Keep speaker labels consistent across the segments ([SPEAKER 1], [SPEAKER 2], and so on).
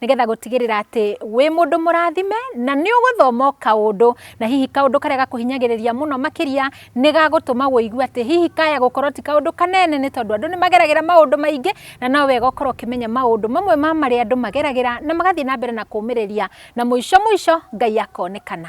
[SPEAKER 1] nĩgetha gũtigĩrĩra atĩ wĩ mũndũ mũrathime na nĩ ũgũthoma o kaũndũ na hihi kaũndũ karĩa gakũhinyagĩrĩria mũno makĩria nĩ gagũtũma wũigue atĩ hihi kaya gũkorwo ti kaũndũ kanene nĩ tondũ andũ nĩ mageragĩra maũndũ maingĩ na no wega ũkorwo ũkĩmenya maũndũ mamwe ma marĩa andũ mageragĩra na magathiĩ na mbere na kũmĩrĩria na mũico mũico Ngai akonekana.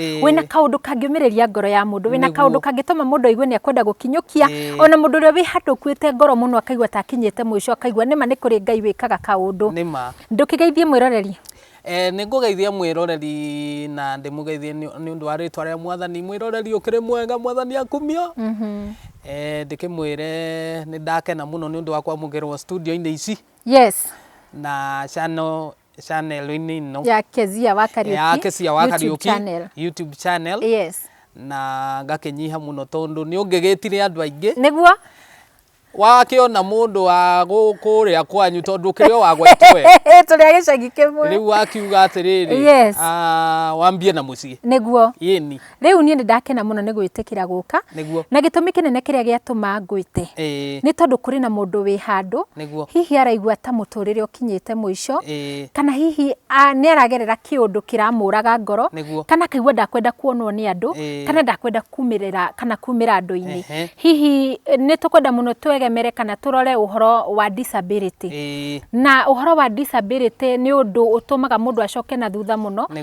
[SPEAKER 1] Ĩĩ. wĩna kaũndũ kangĩũmĩrĩria ngoro ya mũndũ wĩna Nĩguo. kaũndũ kangĩtũma mũndũ aigue nĩ ekwenda gũkinyũkia Ĩĩ. ona mũndũ ũrĩa wĩ handũ ũkuĩte ngoro mũno akaigua ta akinyĩte mũico akaigua nĩma nĩ kũrĩ ngai wĩkaga kaũndũ nĩ ma ndũkĩgeithie mwĩroreri Eh, nĩ ngũgeithia
[SPEAKER 2] mwĩroreri na ndĩmũgeithie nĩ nĩ ũndũ wa rĩtwa rĩa mwathani mwĩroreri ũkĩrĩ mwega mwathani akumio Eh, ndĩkĩmwĩre nĩ ndakena mũno nĩ ũndũ wa kwamũkĩrwo studio-inĩ ici yes
[SPEAKER 1] na
[SPEAKER 2] channel chanel-inĩ ino ya Kezia wa
[SPEAKER 1] Kariuki ya Kezia wa Kariuki
[SPEAKER 2] YouTube channel yes na ngakinyiha muno tondu ni ungigitire andu aingi niguo wakiona mundu wa kuria kwanyu tondu kiri o wa gwaitu we turi a gicagi
[SPEAKER 1] kimwe riu akiuga
[SPEAKER 2] atiriri yes ah, wambie na mucii niguo yini
[SPEAKER 1] Rĩu niĩ
[SPEAKER 2] nĩ ndakena
[SPEAKER 1] mũno nĩ gwĩtĩkĩra gũka. Nĩguo. Na gĩtũmi kĩnene kĩrĩa gĩatũma ngwĩte. Ĩĩ. Nĩ tondũ kũrĩ na mũndũ wĩ handũ. Nĩguo. Hihi araigua ta mũtũrĩre ũkinyĩte mũico. Ĩĩ. Kana hihi nĩ aragerera kĩũndũ kĩramũraga ngoro. Nĩguo. Kana akaigua ndakwenda kuonwo nĩ andũ. Ĩĩ. Kana ndakwenda kumĩrĩra kana kumĩra andũ-inĩ. Ehe. Hihi nĩ tũkwenda mũno twegemere kana tũrore ũhoro wa disability. Ĩĩ. Na ũhoro wa disability nĩ ũndũ ũtũmaga mũndũ acoke na thutha mũno. Nĩguo.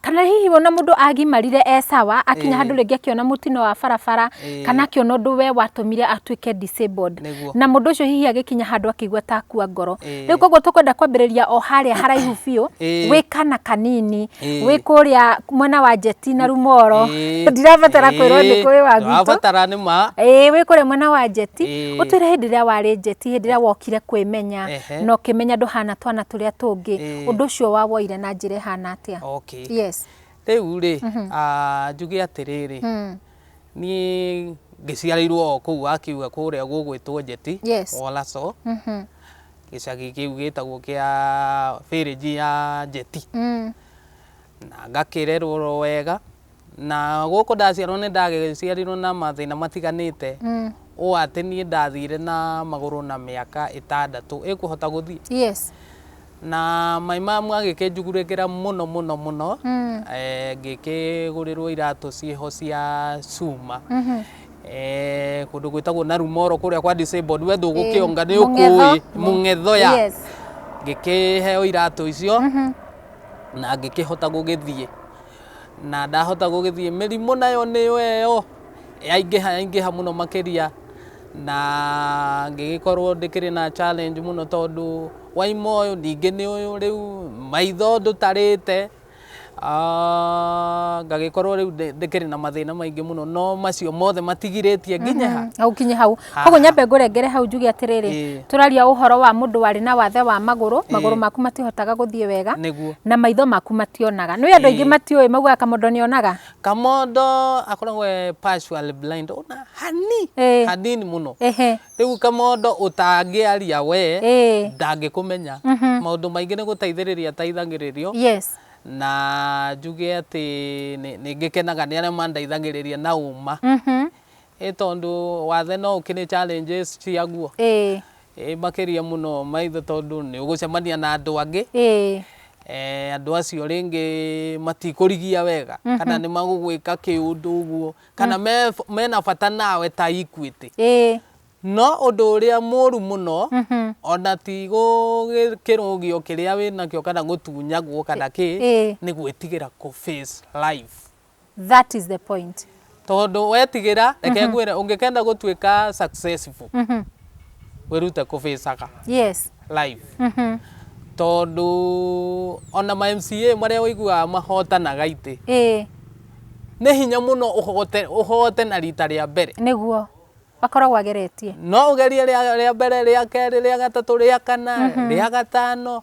[SPEAKER 1] kana hihi ona mundu agimarire e sawa akinya handu ringi akiona mutino wa barabara kana akiona undu we watumire atuike disabled na mundu ucio hihi agikinya handu akigua ta akua ngoro riu koguo tukwenda kwambiriria o haria haraihu biu wi kana kanini wi kuria mwena wa jeti na rumoro ndirabatara kwirwo ni kwi wa gwitu abatara ni ma eh
[SPEAKER 2] wi kuria mwena wa
[SPEAKER 1] jeti utwire hindi ria wari jeti hindi ria wokire kwimenya no kimenya nduhana twana turia tungi undu ucio wa woire na njira ihana atia okay yes
[SPEAKER 2] rĩu
[SPEAKER 1] rĩ
[SPEAKER 2] ah, njuge atĩrĩrĩ mm. niĩ ngĩciarĩirwo o kũu wakiuga kũrĩa gũgwĩtwo njeti Yes. wolaco mhm, gĩcagi kĩu gĩtagwo kĩa bĩrĩnji ya njeti mm. na ngakĩrerwo wega Na gũkũ ndaciarwo nĩ ndagĩciarirwo na mathĩna matiganĩte mm. ũũ atĩ niĩ ndathire na magũrũ na mĩaka ĩtandatũ ĩkũhota gũthiĩ yes.
[SPEAKER 1] na
[SPEAKER 2] maĩ mamu agĩkĩnjugurĩkĩra mũno mũno mũno mm. e, eh, ngĩkĩgũrĩrwo iratũ ciĩho cia cuma mm -hmm eh kundu gwitagwo na rumoro kuria kwa disabled we ndu gukionga ni ukui mungetho ya ngikiheo iratu icio mm-hmm. na ngikihota gugithie Na ndahota gũgĩthiĩ, mĩrimũ nayo nĩyo ĩyo, yaingĩha yaingĩha mũno makĩria, na ngĩgĩkorwo ndĩkĩrĩ na challenge mũno tondũ waima ũyũ ningĩ nĩ ũyũ rĩu, maitho ndũtarĩte, ah, ngagĩkorwo rĩu ndĩkĩrĩ na mathĩna maingĩ mũno, no macio mothe matigirĩtie nginya ha? Gũkinya hau.
[SPEAKER 1] koguo nyambe ngũrengere hau njuge atĩrĩrĩ Ĩĩ. tũraria ũhoro wa mũndũ warĩ na wathe wa magũrũ magũrũ maku matihotaga gũthiĩ wega nĩguo na maitho maku mationaga nĩ andũ aingĩ Ĩĩ. matiũĩ maugaga kamondo nĩonaga kamondo akoragwo e
[SPEAKER 2] partially blind ona hani Ĩĩ. hanini mũno ehe rĩu kamondo ũtangĩaria we Ĩĩ. ndangĩkũmenya Mhm. maũndũ maingĩ nĩ gũteithĩrĩria ateithagĩrĩrio yes na njuge atĩ nĩ- nĩ ngĩkenaga nĩ arĩa mandeithagĩrĩria na ũma Mhm. Ĩ tondũ wathe no ũkĩrĩ challenges ciaguo. Ĩĩ. Ĩĩ makĩria mũno maitho tondũ nĩ ũgũcemania na andũ angĩ. Ĩĩ. Eh, andũ acio rĩngĩ matikũrigia wega mm -hmm. kana nĩ magũgwĩka kĩũndũ ũguo kana mm. me, mena bata nawe ta Equity. Ĩĩ. No ũndũ ũrĩa mũru mũno mm -hmm. ona ti gũkĩrũgio kĩrĩa wĩnakĩo kana gũtunyagwo kana kĩ nĩ gwĩtigĩra kũ face life That is the
[SPEAKER 1] point. Tondu wetigira
[SPEAKER 2] reke mm -hmm. ngwire ungikenda gutuika successful. Mm -hmm. Wirute kubicaga. Yes. Life. Mm -hmm. Tondu ona ma MCA maria wiguaga mahotanaga ite. Eh. Nĩ hinya mũno ũhote ũhote na rita rĩa mbere. Nĩguo
[SPEAKER 1] bakoragwo ageretie no ugerie
[SPEAKER 2] ria mbere ria keri ria gatatu ria kana mhm. ria gatano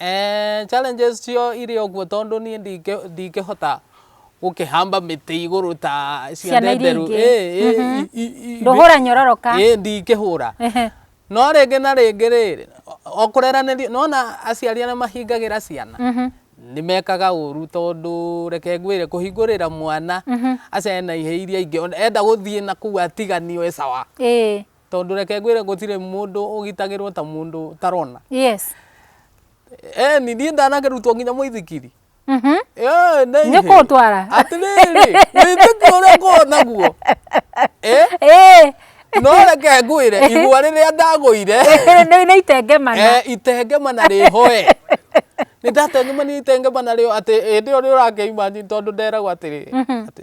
[SPEAKER 1] Eeh challenges
[SPEAKER 2] chio ire okuo tondo nie ndike ndikehota gokehamba mete igoro ta Ciana cianda iria enderu ingĩ. eh eh Mhm. i-
[SPEAKER 1] i- i- Ndũhũra be- nyororoka. eh ndikehũra
[SPEAKER 2] Ehe. no rĩngĩ na rĩngĩ rĩrĩ o- okũreranĩria nona aciari arĩa mahingagĩra ciana Mhm. nĩmekaga ũru tondũ reke ngwĩre kũhingũrĩra mwana aca ena ihĩ iria ingĩ ona enda gũthiĩ na kũu atiganio e sawa Ĩĩ. tondũ reke ngwĩre gũtirĩ mũndũ ũgitagĩrwo ta mũndũ ũtarona yes Eh, ni niĩ ndanakĩrutwo nginya mũithikiri Mhm. Eh,
[SPEAKER 1] nĩ Nĩ kũũtwara. atĩrĩrĩ
[SPEAKER 2] wĩtĩkio ũrĩa ngorwo naguo Eh, Eh, no reke ngwĩre igua rĩrĩa ndagũire nĩ nĩ
[SPEAKER 1] itengemana Eh, itengema na
[SPEAKER 2] rĩhoe nĩ ndatengemanire itengema narĩo atĩ hĩndĩ ĩyo rĩo ũrakĩima tondũ nderagwo atĩrĩ atĩ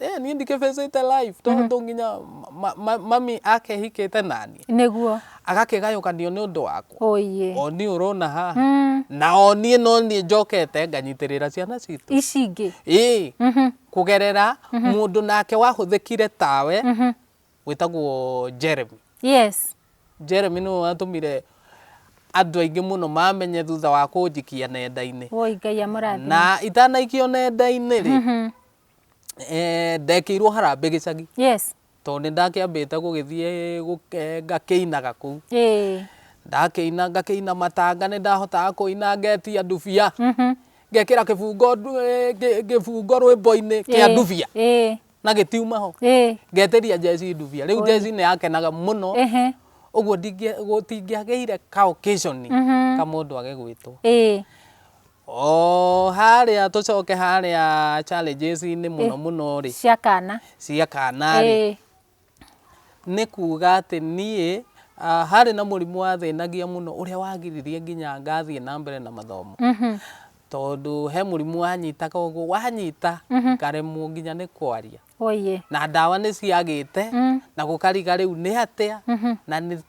[SPEAKER 2] Eh, niĩ ndikĩbĩcĩte live tondũ nginya ma- ma- mami akehikĩte nani nĩguo
[SPEAKER 1] agakĩgayũkanio nĩ
[SPEAKER 2] ũndũ wakwa ũiĩ oni ũrona haha na oniĩ no niĩ njokete nganyitĩrĩra ciana citũ ici ingĩ ĩĩ kũgerera mũndũ nake wahũthĩkire tawe wĩtagwo Jeremy. Yes. Jeremy nĩwe watũmire andũ aingĩ mũno mamenye thutha wa kũnjikia nenda-inĩ. Woi Ngai amũrathime.
[SPEAKER 1] Na itanaikio
[SPEAKER 2] nenda-inĩ rĩ, mm-hmm. eh, ndekĩirwo harambĩ gĩcagi. Yes. Tondũ nĩ ndakĩambĩte gũgĩthiĩ eh, ngakĩinaga kũu. Ĩĩ. Ndakĩina ngakĩina matanga nĩ ndahotaga kũina ngetia ndubia. Mhm. Mm ngekira kibungo kibungo rwimbo-ini kia ndubia na gĩtiuma ho Ĩĩ. ngetĩria jeci ndubia rĩu jeci nĩ yakenaga mũno Ehe. ũguo ndingĩ- gũtingĩagĩire ka occasion ka mũndũ age gwĩtwo Ĩĩ. o harĩa tũcoke harĩa challenges-inĩ mũno mũno rĩ cia kana cia
[SPEAKER 1] kana rĩ Ĩĩ.
[SPEAKER 2] nĩ kuuga atĩ niĩ ah, harĩ na mũrimũ wathĩnagia mũno ũrĩa wagiririe nginya ngathiĩ na mbere na mathomo tondũ he mũrimũ wanyitaga ũguo wanyita ngaremwo nginya nĩ kwaria oye na ndawa nĩ ciagĩte na gũkariga rĩu nĩ atĩa na nĩ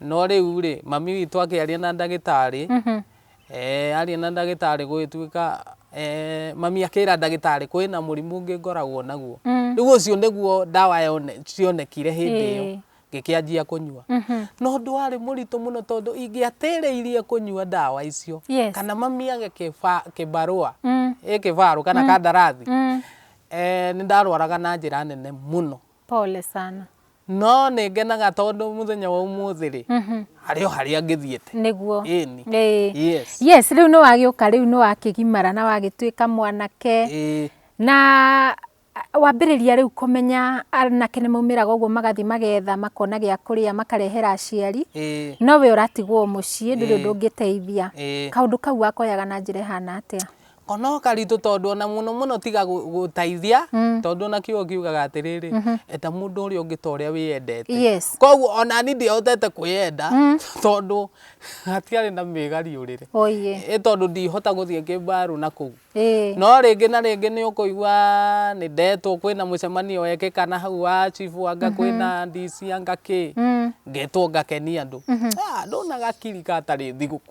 [SPEAKER 2] No rĩu-rĩ, mami witũ akĩaria na ndagĩtarĩ, eh, aria na ndagĩtarĩ gũgĩtuĩka eh, mami akĩra ndagĩtarĩ kwĩna mũrimũ ũngĩ ngoragwo naguo. Rĩu ũcio nĩguo ndawa yone, cionekire hĩndĩ ĩyo Ĩĩ. ngĩkĩanjia kũnyua. No ũndũ warĩ mũritũ mũno tondũ ingĩatĩrĩirie kũnyua ndawa icio Yes. kana mami age kĩba- kĩbarũa ĩ kĩbarũ kana kandarathi eh, nĩ ndarwaraga na njĩra nene mũno. Pole sana.
[SPEAKER 1] No nĩngenaga
[SPEAKER 2] tondũ mũthenya wa ũmũthĩ rĩ harĩ o harĩa ngĩthiĩte. Nĩguo. Ĩni.
[SPEAKER 1] Ĩĩ.
[SPEAKER 2] Yes. Yes, rĩu nĩwagĩũka
[SPEAKER 1] rĩu nĩwakĩgimara na wagĩtuĩka mwanake. Ĩĩ. Na wambĩrĩria rĩu kũmenya anake nĩmaumĩraga ũguo magathiĩ magetha makona gĩa kũrĩa makarehera aciari. Ĩĩ. No we ũratigwo mũciĩ ndũrĩ ũndũ ũngĩteithia. Ĩĩ. Kaũndũ kau wakoyaga na njĩra ĩhana atĩa? O no karitũ
[SPEAKER 2] tondũ ona mũno mũno tiga gũteithia tondũ ona kiugo kiugaga atĩrĩrĩ enda mũndũ ũrĩa ũngĩ ta ũrĩa wĩyendete Yes. koguo ona niĩ ndihotete kwĩyenda tondũ hatiarĩ na mĩgariũrĩre Oye. ĩ tondũ ndihota gũthiĩ kĩmbarũ na kũu Ĩĩ. no rĩngĩ na rĩngĩ nĩ ũkũigua nĩ ndetwo kwĩna mũcemanio wekĩka na hau wa chibu anga kwĩna DC anga kĩ ngetwo ngakenia andũ Ah, ndũna gakiri gatarĩ thigũkũ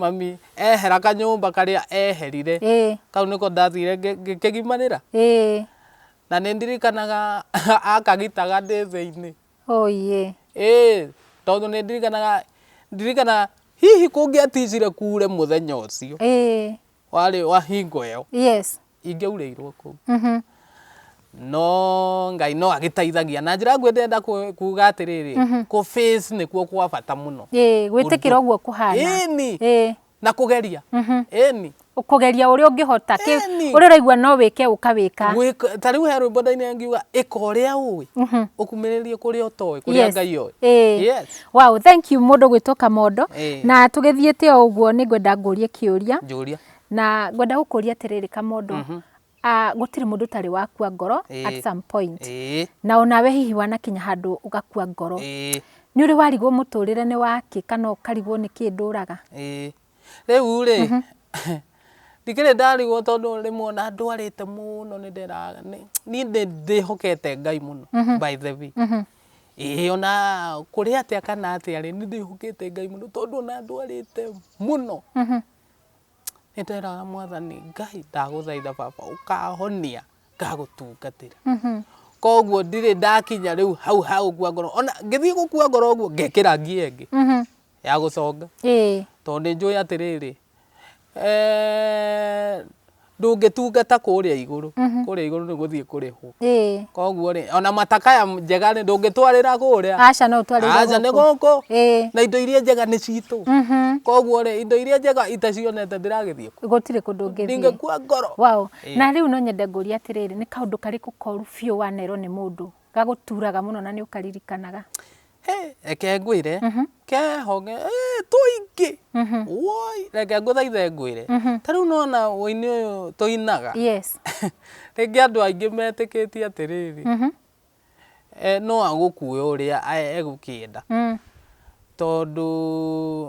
[SPEAKER 2] Mami ehera kanyũmba karĩa eherire kau nĩko ndathire ngĩkĩgimanĩra na nĩ ndirikanaga akagitaga ndĩ thĩinĩ tondũ nĩ ndirikanaga hihi kũngĩatijire kure mũthenya ũcio. warĩ wa hingo ĩyo yes ingĩaurĩirwo kũu mhm no ngai no agĩteithagia na njĩra nguhĩ ndĩrenda ku- kuga atĩrĩrĩ kũ face nĩkuo kwa bata mũno ĩĩ gwĩtĩkĩra ũguo
[SPEAKER 1] kũhana Ĩni. ĩĩ na
[SPEAKER 2] kũgeria Mhm. ĩni
[SPEAKER 1] kũgeria ũrĩa ũngĩhota kĩ- Ĩni. ũrĩa ũraigua no wĩke ũkawĩka Gwĩka- ta rĩu he rwĩmbo
[SPEAKER 2] ndainĩ ngiuga ĩka ũrĩa ũĩ Mhm. ũkumĩrĩrie kũrĩa ũtoĩ kũrĩa Yes. ngai oĩ Ĩĩ. Yes. Wow,
[SPEAKER 1] thank you mũndũ gwĩtwo Kamondo. Eh. Na tũgĩthiĩte o ũguo nĩ ngwenda ngũrie kĩũria. Njũria. Na ngwenda gũkũria atĩrĩrĩ Kamondo. Mm -hmm. uh, gũtirĩ mũndũ ũtarĩ wakua ngoro eh. at some point. Eh. Na onawe hihi wanakinya handũ ũgakua ngoro. Eh. Nĩ ũrĩ warigwo mũtũrĩre nĩ wakĩ kana ũkarigwo nĩ kĩndũ ũraga? Eh. Rĩu
[SPEAKER 2] rĩ, mhm. ndikĩrĩ ndarigwo tondũ rĩmwe ona ndwarĩte mũno nĩ ndĩraga niĩ ndĩhokete ngai mũno mhm. by the way mhm. ĩĩ ona kũrĩ atĩa kana atĩa rĩ nĩ ndĩhokete ngai mũno tondũ ona ndwarĩte mũno nĩ ndĩraga mwathani ngai ndagũthaitha baba ũkahonia ngagũtungatĩra koguo ndirĩ ndakinya rĩu hau ha gũkua ngoro ona ngĩthiĩ gũkua ngoro ũguo ngekĩra ngiya ĩngĩ ya gũconga ĩĩ tondũ nĩ njũĩ atĩrĩrĩ eh, ndũngĩtungata kũrĩa igũrũ Mhm. kũrĩa igũrũ nĩ gũthiĩ kũrĩhwo ĩĩ koguo rĩ ona matakaya njega rĩ ndũngĩtwarĩra kũrĩa aca no ũtwarĩre aca
[SPEAKER 1] nĩ gũkũ gũkũ ĩĩ
[SPEAKER 2] na indo iria njega nĩ citũ Mhm. koguo rĩ indo iria njega itacionete ndiragĩthiĩ kũ gũtirĩ kũndũ ũngĩthiĩ
[SPEAKER 1] ndingĩkua ngoro Wow.
[SPEAKER 2] Ĩĩ. na rĩu no
[SPEAKER 1] nyende ngũria atĩrĩrĩ nĩ kaũndũ karĩkũ koru biũ wanerwo nĩ mũndũ gagũturaga mũno na nĩ ũkaririkanaga reke
[SPEAKER 2] ngwĩre kehonge eh, tũingĩ woi reke ngũthaithe ngwĩre ta rĩu nona ũini ũyũ tũinaga yes rĩngĩ andũ aingĩ metĩkĩtie atĩrĩrĩ eh, no agũkue ũrĩa eh, egũkĩenda mm. tondũ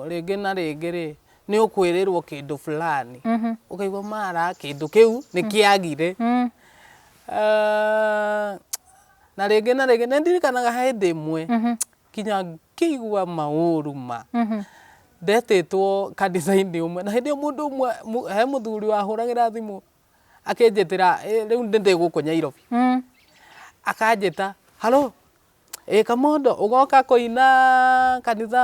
[SPEAKER 2] rĩngĩ na rĩngĩ rĩ nĩ ũkwĩrĩrwo kĩndũ fulani mhm. ũkaigua mara kĩndũ kĩu nĩ mm. kĩagire mm. eh, Na rĩngĩ na rĩngĩ, nĩ ndirikanaga he hĩndĩ ĩmwe nginya ngĩigua maũru ma. Ndetĩtwo kanitha-inĩ ũmwe, na hĩndĩ ĩyo mũndũ ũmwe, mũ- he mũthuri wahũragĩra thimũ akĩnjĩtĩra "Ĩ, rĩu ndĩ gũkũ Nyairobi. Akanjĩta, haro, ĩ Kamondo, ũgoka kũina kanitha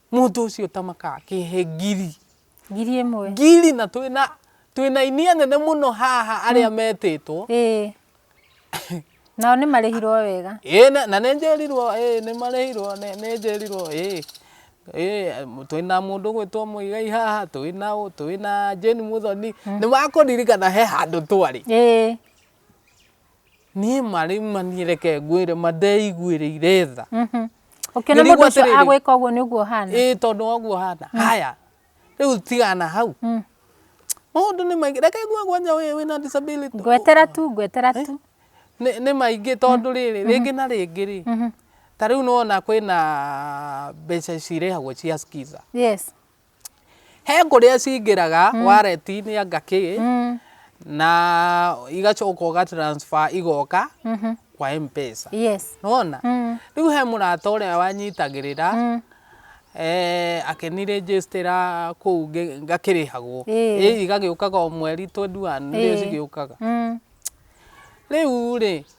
[SPEAKER 2] Mũndũ ũcio ũtamakaga kĩhe ngiri. Ngiri ĩmwe. Ngiri na twĩna twĩna inia nene mũno haha arĩa mm. metĩtwo. Ĩĩ.
[SPEAKER 1] Nao nĩ marĩhirwo wega. Ĩĩ na nĩ njĩrirwo
[SPEAKER 2] ĩĩ nĩ marĩhirwo nĩ njĩrirwo ĩĩ. Ĩĩ twĩna mũndũ gwĩtwo Mũigai haha twĩna ũ twĩna Jane Muthoni. Mm. Nĩ makũririkana he handũ twarĩ. Ĩĩ. niĩ marĩ mani reke ngwĩre ma ndeiguĩrĩire tha Mhm. ũkĩona Ngĩrigwo
[SPEAKER 1] mũndũ ũcio atĩrĩrĩ. agwĩka ũguo nĩ ũguo hana ĩĩ tondũ waguo hana
[SPEAKER 2] haya rĩu tigana hau Mm. maũndũ nĩ maingĩ reke ngue gwanja wĩ wĩna disability ngwetera tu ngwetera
[SPEAKER 1] tu nĩ
[SPEAKER 2] nĩ maingĩ tondũ rĩrĩ rĩngĩ na rĩngĩ rĩ Mhm. ta rĩu nona kwĩna mbeca cirĩhagwo cia skiza yes He kũrĩa cingĩraga mm. wallet-inĩ anga kĩ mm. na igacoka ũga transfer igoka mm -hmm. kwa M-Pesa. Yes. Nona? Mm. Rĩu he mũrata ũrĩa wanyitagĩrĩra mm. eh, akĩnirĩnjĩstĩra kũu ngakĩrĩhagwo ĩĩ igagĩũkaga o mweri 21 nĩrĩo cigĩũkaga mm. rĩu rĩ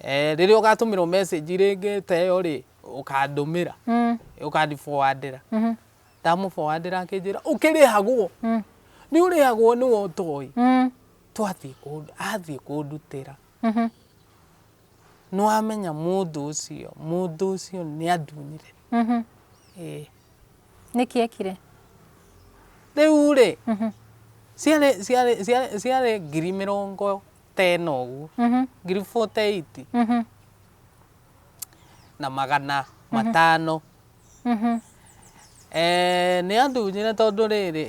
[SPEAKER 2] Eh, rĩrĩa ũgatũmĩrwo message rĩngĩ ta ĩyo rĩ ũkandũmĩra Mm. ũkandiboandĩra Mhm. ndamũboandĩra akĩnjĩra ũkĩrĩhagwo Mm. nĩ ũrĩhagwo nĩ we ũtoĩ Mm. twathiĩ kũndu- athiĩ kũndutĩra Mhm. nĩwamenya mũndũ ũcio mũndũ ũcio nĩ andunire Mhm. Ĩĩ.
[SPEAKER 1] nĩkĩ ekire
[SPEAKER 2] rĩu rĩ Mhm. ciarĩ ciarĩ- ciarĩ- ciarĩ ngiri mĩrongo tene ũguo Mhm. ngiri 48 Mhm. na magana matano Mhm. Eh, nĩ andunyire tondũ rĩrĩ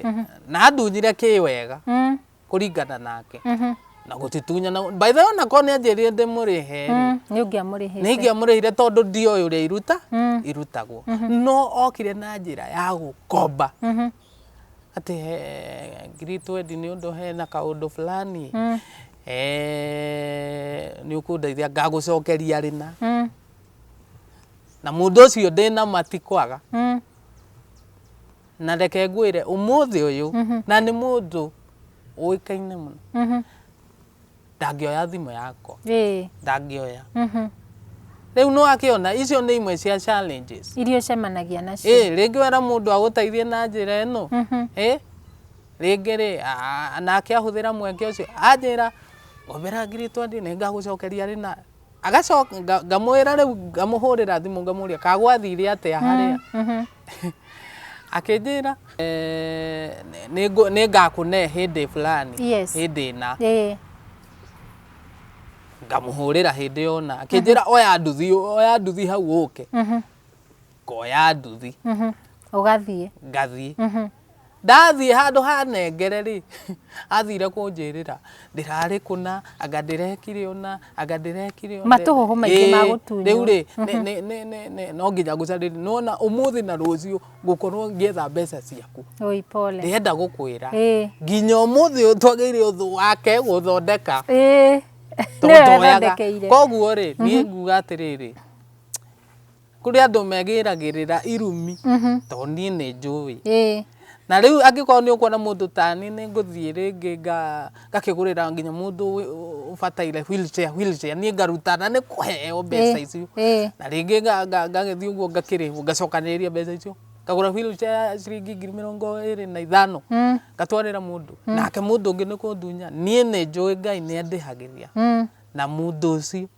[SPEAKER 2] na andunyire kĩ wega Mhm. kũringana nake Mhm. na gũtitunyana by the way ona korwo nĩ anjĩrire ndĩmũrĩhe rĩ, Mhm. nĩ ũngĩamũrĩhĩte
[SPEAKER 1] nĩ ingĩamũrĩhire tondũ
[SPEAKER 2] ndioĩ ũrĩa iruta Mm. irutagwo no okire na njĩra ya gũkomba Mhm. atĩ he ngirĩtu wendi nĩ ũndũ hena kaũndũ fulani mm. eh, nĩ ũkũndeithia ngagũcokeria rĩna mm. na mũndũ ũcio ndĩna matikwaga mm. na reke ngwĩre ũmũthĩ ũyũ mm -hmm. na nĩ mũndũ ũĩkaine mũno mm -hmm. ndangĩoya thimũ yakwa ĩĩ ndangĩoya mhm. rĩu nĩ wakĩona icio nĩ imwe cia challenges iria ũcemanagia
[SPEAKER 1] nacio ĩĩ rĩngĩ wera mũndũ
[SPEAKER 2] agũteithie na njĩra ĩno Mhm. ĩĩ rĩngĩ rĩ a- nake ahũthĩra mweke ũcio anjĩra ngomera ngiri twendi nĩ ngagũcokeria rĩ na Agacoka nga- ngamwĩra rĩu ngamũhũrĩra thimũ ngamũria kagwathire atĩa harĩa akĩnjĩra "Eh, nĩ- nĩngũ- nĩngakũne hĩndĩ fulani Yes. hĩndĩ ĩna Ĩĩ. ngamũhũrĩra hĩndĩ yona akĩnjĩra oya nduthi oya nduthi hau ũke Mhm. ngoya nduthi mhm. ũgathiĩ
[SPEAKER 1] ngathiĩ
[SPEAKER 2] mhm. ndathiĩ handũ hanengere rĩ athire kũnjĩrĩra ndĩrarĩ kũna anga ndĩrekire ũna anga ndĩrekire matũhũhũ maingĩ ma gũtunywo
[SPEAKER 1] rĩu rĩ mhm.
[SPEAKER 2] no nginya ngũcarĩri nona ũmũthĩ na rũciũ ngũkorwo ngĩetha mbeca ciaku ndĩrenda
[SPEAKER 1] gũkwĩra
[SPEAKER 2] nginya ũmũthĩ twagĩire ũthũ wake gũthondeka tondũ koguo rĩ niĩ nguga atĩrĩrĩ Kũrĩ andũ megĩragĩrĩra irumi to niĩ nĩ njũĩ. Na rĩu angĩkorwo nĩ ũkuona mũndũ ta niĩ nĩ ngũthiĩ rĩngĩ ngakĩgũrĩra nginya mũndũ ũbataire wheelchair, wheelchair niĩ ngaruta na nĩ kũheo mbeca icio. Na rĩngĩ ngagĩthiĩ ũguo ngakĩrĩhwo ngacokanĩrĩria mbeca icio ngagũra wheelchair ya ciringi ngiri mĩrongo ĩrĩ na ithano ngatwarĩra mũndũ. Nake mũndũ ũngĩ nĩ kũndunya niĩ nĩ njũĩ Ngai nĩ andĩhagĩria na mũndũ ũcio.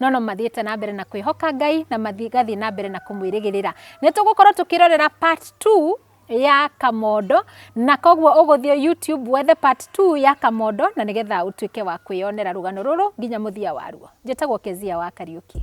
[SPEAKER 1] no no mathiĩte na mbere na kwĩhoka ngai na magathiĩ na mbere na kũmwĩrĩgĩrĩra nĩ tũgũkorwo tũkĩrorera part 2 ya kamondo na koguo ũgũthiĩ youtube wethe part 2 ya kamondo na nĩgetha ũtuĩke wa kwĩyonera rũgano rũrũ nginya mũthia waruo njĩtagwo kezia wa kariũki